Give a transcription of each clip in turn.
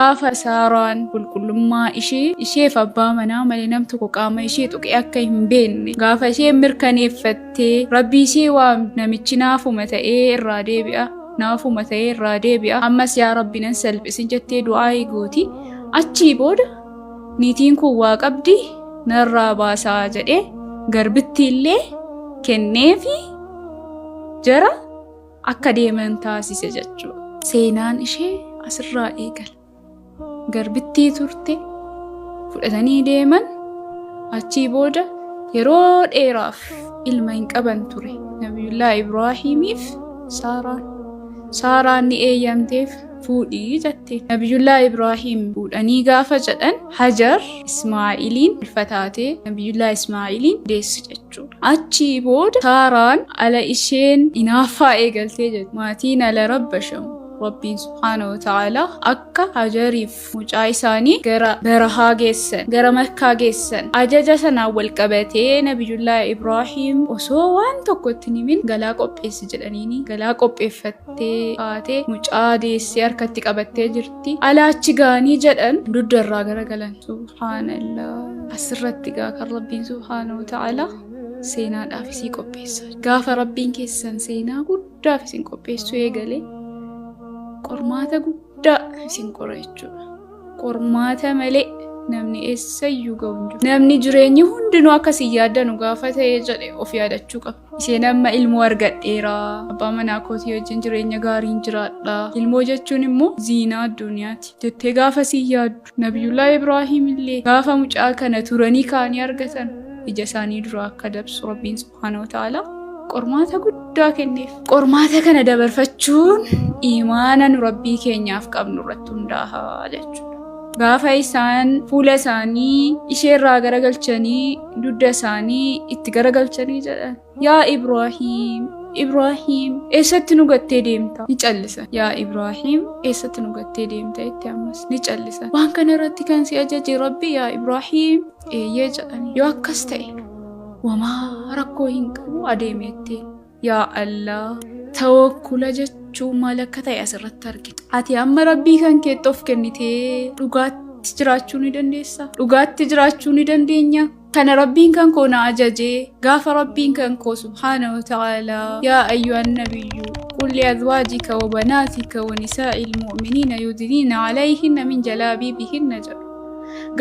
Gaafa Saaraan qulqullummaa ishee isheef abbaa manaa malee nam tokko qaama ishee tuqee akka hin beekne gaafa isheen mirkaneeffattee rabbii ishee waam namichi naafuma ta'ee irraa deebi'a naafuma ta'ee irraa deebi'a ammas yaa rabbi nan salphisin jettee du'aa'ii gooti achii booda niitiin kun waa qabdi narraa baasaa jedhee garbittiillee kenneefi jara akka deeman taasise jechuudha. Seenaan ishee asirraa eegala. Garbittii turte fudhatanii deeman achii booda yeroo dheeraaf ilma hin qaban ture nabiyullaa ibraahiimiif saaraan saaraan ni eeyyamteef fuudhii jette nabiyullaa ibraahiim fuudhanii gaafa jedhan hajar ismaa'iliin ulfataatee nabiyullaa ismaa'iliin deessu jette Achii booda Saaraan ala isheen inaaffaa eegaltee jirti. Maatiin ala rabbashamu. Rabbiin subhaanahu wa ta'aalaa akka Hajariif mucaa isaanii gara barahaa geessan, gara Makkaa geessan. Ajaja sanaan wal qabatee Nabiyullaahi Ibraahiim osoo waan tokko itti hin himin galaa qopheessi jedhaniini galaa qopheeffattee kaatee mucaa deessee harkatti qabattee jirti. tti alaa achi ga'anii jedhan dudda irraa garagalan subhaanallah asirratti gaa kan rabbiin subhaanahu wa ta'ala seenaadhaaf isii qopheessa gaafa rabbiin keessan seenaa guddaaf isin qopheessuu eegalee qormaata guddaa isin qora jechuudha qormaata malee namni eessayyuu ga'u hin jiru namni jireenyi hundinuu akka isin yaaddanu gaafa ta'e jedhe of yaadachuu qaba Isheen amma ilmoo argadheera. Abbaa manaa kootii wajjin jireenya gaariin jiraadha. Ilmoo jechuun immoo ziinaa addunyaati. Jettee gaafa siin yaaddu. Nabiyullaa Ibraahim illee gaafa mucaa kana turanii kaanii argatan ija isaanii duraa akka dabsu Rabbiin subhaanahu wa ta'aalaa qormaata guddaa kenneef. Qormaata kana dabarfachuun imaana nu Rabbii keenyaaf qabnu irratti hundaa'a jechuudha. Gaafa isaan fuula isaanii ishee irraa garagalchanii dugda isaanii itti garagalchanii jedhan. Yaa Ibraahiim! Ibraahiim! Eessatti nu gattee deemta? Ni callisan. Yaa Ibraahiim! Eessatti nu gattee deemta? Itti ammas ni callisan. Waan kana irratti kan si ajaje Rabbi yaa Ibraahiim! Eeyyee jedhani. Yoo akkas ta'e wamaa rakkoo hin qabu adeemeettee. Yaa Allah tawakkula jechuun maal akka ta'e asirratti argina. Ati amma rabbii kan keetti of kennitee dhugaatti jiraachuu ni dandeessa. Dhugaatti jiraachuu ni dandeenya. Kana rabbiin kan koo na ajajee gaafa rabbiin kan koo subhaana wa ta'ala yaa ayyuhan nabiyyu qul li azwaajika wa banaatika wa nisaa'il mu'miniina yudniina alayhinna min jalaabiibihinna jedhu.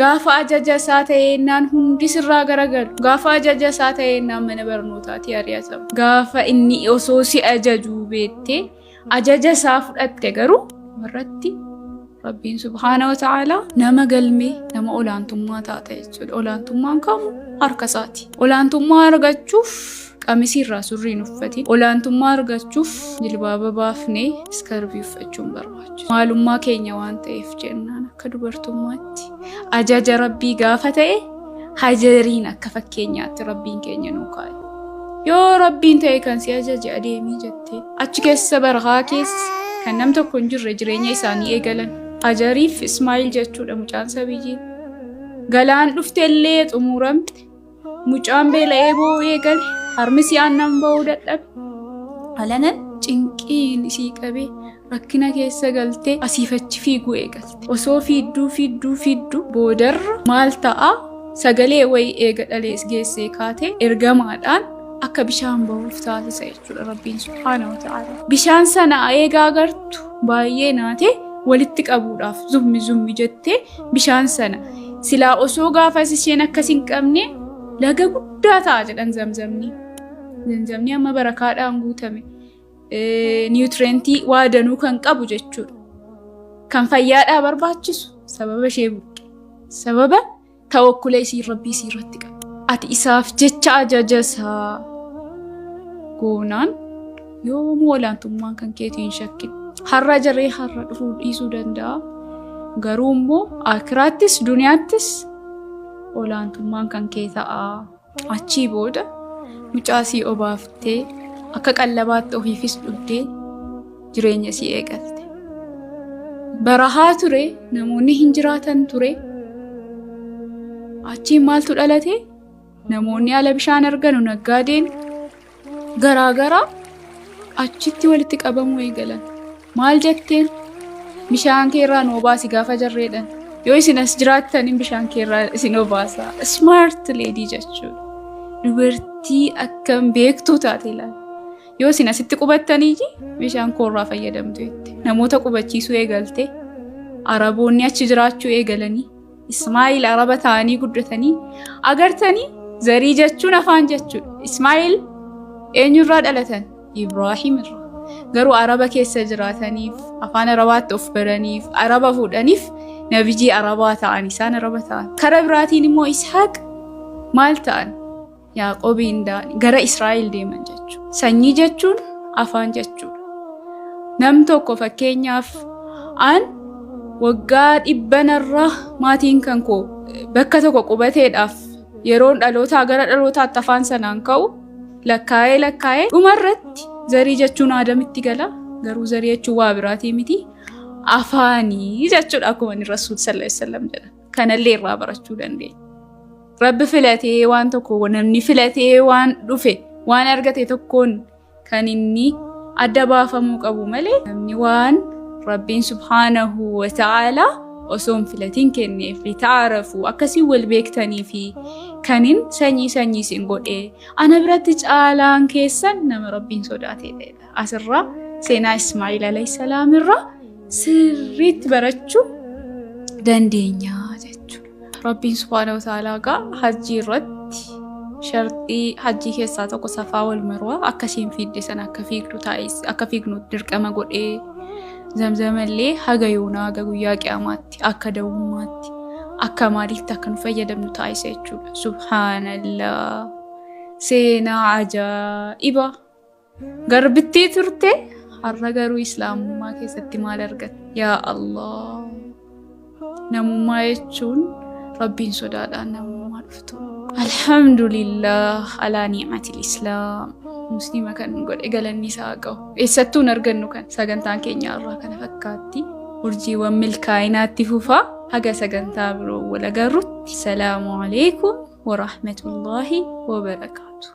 Gaafa ajaja isaa ta'eennaan hundi sirraa garagalu. Gaafa ajaja isaa ta'eennaan mana barnootaatii ari'atamu. Gaafa inni osoo si ajajuu beettee ajaja isaa fudhatte garuu irratti Rabbiin subhaana wa ta'aalaa nama galmee nama olaantummaa taata jechuudha. Olaantummaan kamuu harka isaati. Olaantummaa argachuuf Qamisii irraa surrii hin uffatin. Olaantummaa argachuuf jilbaaba baafnee iskarvii uffachuun barbaachisa. Maalummaa keenya waan ta'eef jennaan akka dubartummaatti ajaja rabbii gaafa ta'e hajariin akka fakkeenyaatti rabbiin keenya nuu kaa'e. Yoo rabbiin ta'e kan si ajaje adeemii jettee achi keessa barahaa keessa kan nam tokko hin jirre jireenya isaanii eegalan. Hajariif Ismaa'il jechuudha mucaan sabiyyii. Galaan dhufte illee xumuramte. Mucaan beela'ee boo'uu eegale harmisi aannan ba'uu dadhabe. Alanan cinqiin isii qabee rakkina keessa galtee asiif achi fiiguu eegalte. Osoo fiidduu fiidduu fiidduu boodarra maal ta'a sagalee wayii eega dhalees geessee kaatee ergamaadhaan akka bishaan bahuuf taasisa jechuudha rabbiin subhaana wa ta'ala. Bishaan sana eegaa agartu baay'ee naatee walitti qabuudhaaf zummi zummi jettee bishaan sana. Silaa osoo gaafas isheen akkas hin qabne laga guddaa ta'a jedhan zamzamni. Zamzamni amma barakaadhaan guutame. Niwutirentii waa danuu kan qabu jechuudha. Kan fayyaadhaa barbaachisu sababa ishee buqqe. Sababa tawakkula isii rabbii isii irratti qabu. Ati isaaf jecha ajaja isaa goonaan Yoomuu olaantummaan kan keetii hin shakkin. Har'a jiree har'a dhufuu dhiisuu danda'a. Garuu immoo akiraattis duniyaattis olaantummaan kan kee ta'a. Achii booda mucaa sii obaaftee akka qallabaatti ofiifis dhugdee jireenya sii eegalte. Barahaa ture namoonni hin jiraatan ture. Achiin maaltu dhalate? Namoonni ala bishaan arganu naggaadeen garaagaraa achitti walitti qabamuu eegalan. Maal jetteen? Bishaan kee irraa nu obaasi gaafa jarreedhan. Yoo isin as jiraattaniin bishaan kee irraa isin obaasa. Smart lady jechuudha. Dubartii akkam beektuu taate ilaali. Yoo isin asitti qubattanii bishaan koo irraa fayyadamtu jette. Namoota qubachiisuu eegalte. Araboonni achi jiraachuu eegalanii. Ismaa'il araba ta'anii guddatanii agartanii zarii jechuun afaan jechuudha. Ismaa'il eenyurraa dhalatan? Ibraahim irraa. Garuu araba keessa jiraataniif afaan arabaatti of baraniif araba fuudhaniif nabijii arabaa ta'an isaan araba ta'an. Kara biraatiin immoo Ishaaq maal ta'an? Yaaqoobiin Daanii gara Israa'el deeman jechuudha. Sanyii jechuun afaan jechuudha. Nam tokko fakkeenyaaf an waggaa dhibbanarraa maatiin kan koo bakka tokko qubateedhaaf yeroon dhalootaa gara dhalootaatti afaan sanaan ka'u lakkaa'ee lakkaa'ee dhumarratti zarii jechuun aadamitti gala garuu zarii jechuun waa biraatii miti afaanii jechuudha akkuma inni rasuul sallallahu alaihi wasallam jedha kanallee irraa barachuu dandeenya. Rabbi filatee waan tokko namni filatee waan dhufe waan argate tokkoon kan inni adda baafamuu qabu malee namni waan rabbiin subhaanahu wa ta'ala osoo hin filatiin kenneef litaarafu akkasii wal beektanii fi kanin sanyii sanyii isin godhe ana biratti caalaan keessan nama rabbiin sodaatee ta'edha. Asirraa seenaa Ismaa'il alayhi salaam irraa sirriitti barachuu dandeenya. Rabbiin subhaanahu wa ta'aalaa egaa hajjii irratti sharxii hajjii keessaa tokko safaa wal marwaa akka isheen fiidde sana akka fiigdu taa'is akka fiignu dirqama godhee zamzamallee haga yoonaa haga guyyaa qiyaamaatti akka da'ummaatti akka maaliitti akka nu fayyadamnu taa'isa jechuudha. Subhaanallah seenaa ajaa'ibaa. Garbittii turte har'a garuu islaamummaa keessatti maal argatte? Yaa Allah! Namummaa jechuun rabbiin sodaadhaan namummaa dhuftu. Alhamdulillah alaa ni'matil islaam. Musliima kan nu godhe galanni isaa haa gahu. Eessattuu hin argannu kan sagantaan keenya irraa kana fakkaatti. Urjiiwwan milkaa'inaatti fufaa haga sagantaa biroo wal agarrutti. Salaamu alaikum wa rahmatullahi wa barakaatu.